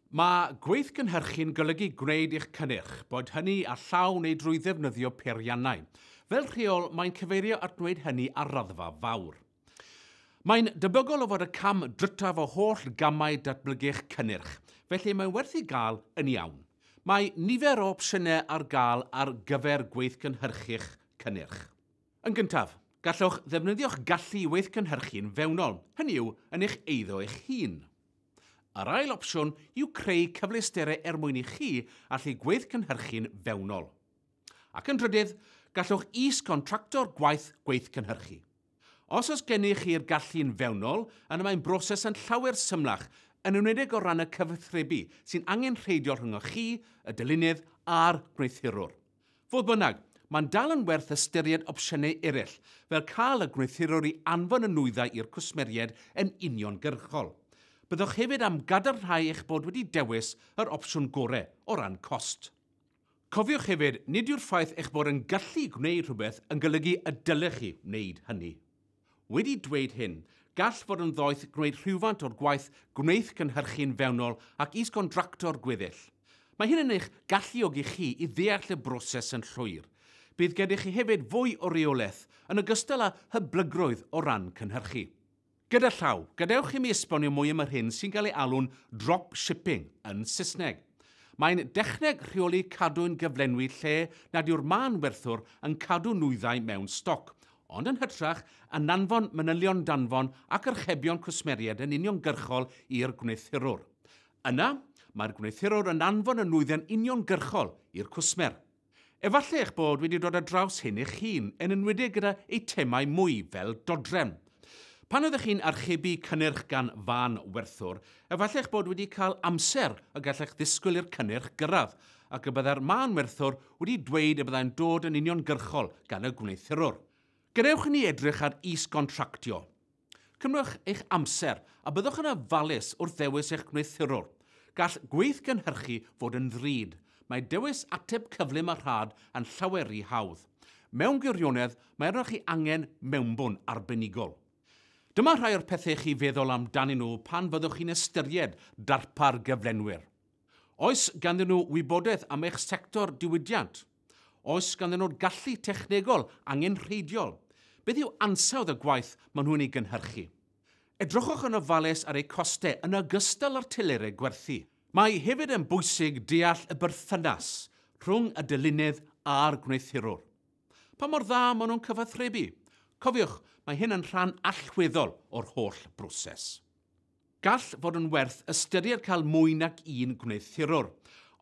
Mae gweithgynhyrchu'n golygu gwneud eich cynnyrch, boed hynny â llaw neu drwy ddefnyddio peiriannau. Fel rheol, mae'n cyfeirio at wneud hynny ar raddfa fawr. Mae'n debygol o fod y cam drytaf o holl gamau datblygu'ch cynnyrch, felly mae'n werth ei gael yn iawn. Mae nifer o opsiynau ar gael ar gyfer gweithgynhyrchu'ch cynnyrch. Yn gyntaf, gallwch ddefnyddio'ch gallu i weithgynhyrchu'n fewnol, hynny yw, yn eich eiddo eich hun. Yr ail opsiwn yw creu cyfleusterau er mwyn i chi allu gweithgynhyrchu'n fewnol. Ac yn drydydd, gallwch is-gontracto'r gwaith gweithgynhyrchu. Os oes gennych chi'r gallu'n fewnol, yna mae'n broses yn llawer symlach, yn enwedig o ran y cyfathrebu sy'n angenrheidiol rhyngoch chi, y dylunydd a'r gwneuthurwr. Fodd bynnag, mae'n dal yn werth ystyried opsiynau eraill, fel cael y gwneuthurwr i anfon y nwyddau i'r cwsmeriaid yn uniongyrchol. Byddwch hefyd am gadarnhau eich bod wedi dewis yr opsiwn gorau o ran cost. Cofiwch hefyd, nid yw'r ffaith eich bod yn gallu gwneud rhywbeth yn golygu y dylech chi wneud hynny. Wedi dweud hyn, gall fod yn ddoeth gwneud rhywfaint o'r gwaith gwneith gynhyrchu'n fewnol ac is-gontracto'r gweddill. Mae hyn yn eich galluogi chi i ddeall y broses yn llwyr. Bydd gennych chi hefyd fwy o reolaeth, yn ogystal â hyblygrwydd o ran cynhyrchu. Gyda llaw, gadewch i mi esbonio mwy am yr hyn sy'n cael ei alw'n dropshipping yn Saesneg. Mae'n dechneg rheoli cadwyn gyflenwi lle nad yw'r mân werthwr yn cadw nwyddau mewn stoc, ond yn hytrach ananfon manylion danfon ac archebion cwsmeriaid yn uniongyrchol i'r gwneuthurwr. Yna, mae'r gwneuthurwr yn anfon y nwyddau'n uniongyrchol i'r cwsmer. Efallai eich bod wedi dod ar draws hyn eich hun, yn enwedig gyda eitemau mwy fel dodrefn. Pan oeddech chi'n archebu cynnyrch gan fân werthwr, efallai eich bod wedi cael amser y gallech ddisgwyl i'r cynnyrch gyrraedd, ac y byddai'r mân werthwr wedi dweud y byddai'n dod yn uniongyrchol gan y gwneuthurwr. Gadewch i ni edrych ar is-gontractio. Cymrwch eich amser, a byddwch yn ofalus wrth ddewis eich gwneuthurwr. Gall gweithgynhyrchu fod yn ddrud. Mae dewis ateb cyflym a rhad yn llawer ry hawdd. Mewn gwirionedd, mae arnoch chi angen mewnbwn arbenigol. Dyma rhai o'r pethau i chi feddwl amdanyn nhw pan fyddwch chi'n ystyried darpar gyflenwyr. Oes ganddyn nhw wybodaeth am eich sector diwydiant? Oes ganddyn nhw'r gallu technegol angenrheidiol? Beth yw ansawdd y gwaith maen nhw'n ei gynhyrchu? Edrychwch yn ofalus ar eu costau yn ogystal â'r telerau gwerthu. Mae hefyd yn bwysig deall y berthynas rhwng y dylunedd a'r gwneuthurwr. Pa mor dda maen nhw'n cyfathrebu? Cofiwch, mae hyn yn rhan allweddol o'r holl broses. Gall fod yn werth ystyried cael mwy nag un gwneuthurwr.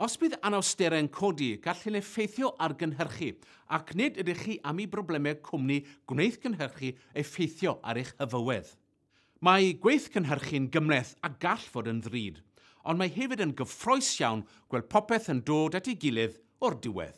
Os bydd anawsterau'n codi, gall hyn effeithio ar gynhyrchu, ac nid ydych chi am i broblemau cwmni gwneithgynhyrchu effeithio ar eich hyfywedd. Mae gweithgynhyrchu'n gymhleth a gall fod yn ddrud, ond mae hefyd yn gyffrous iawn gweld popeth yn dod at ei gilydd o'r diwedd.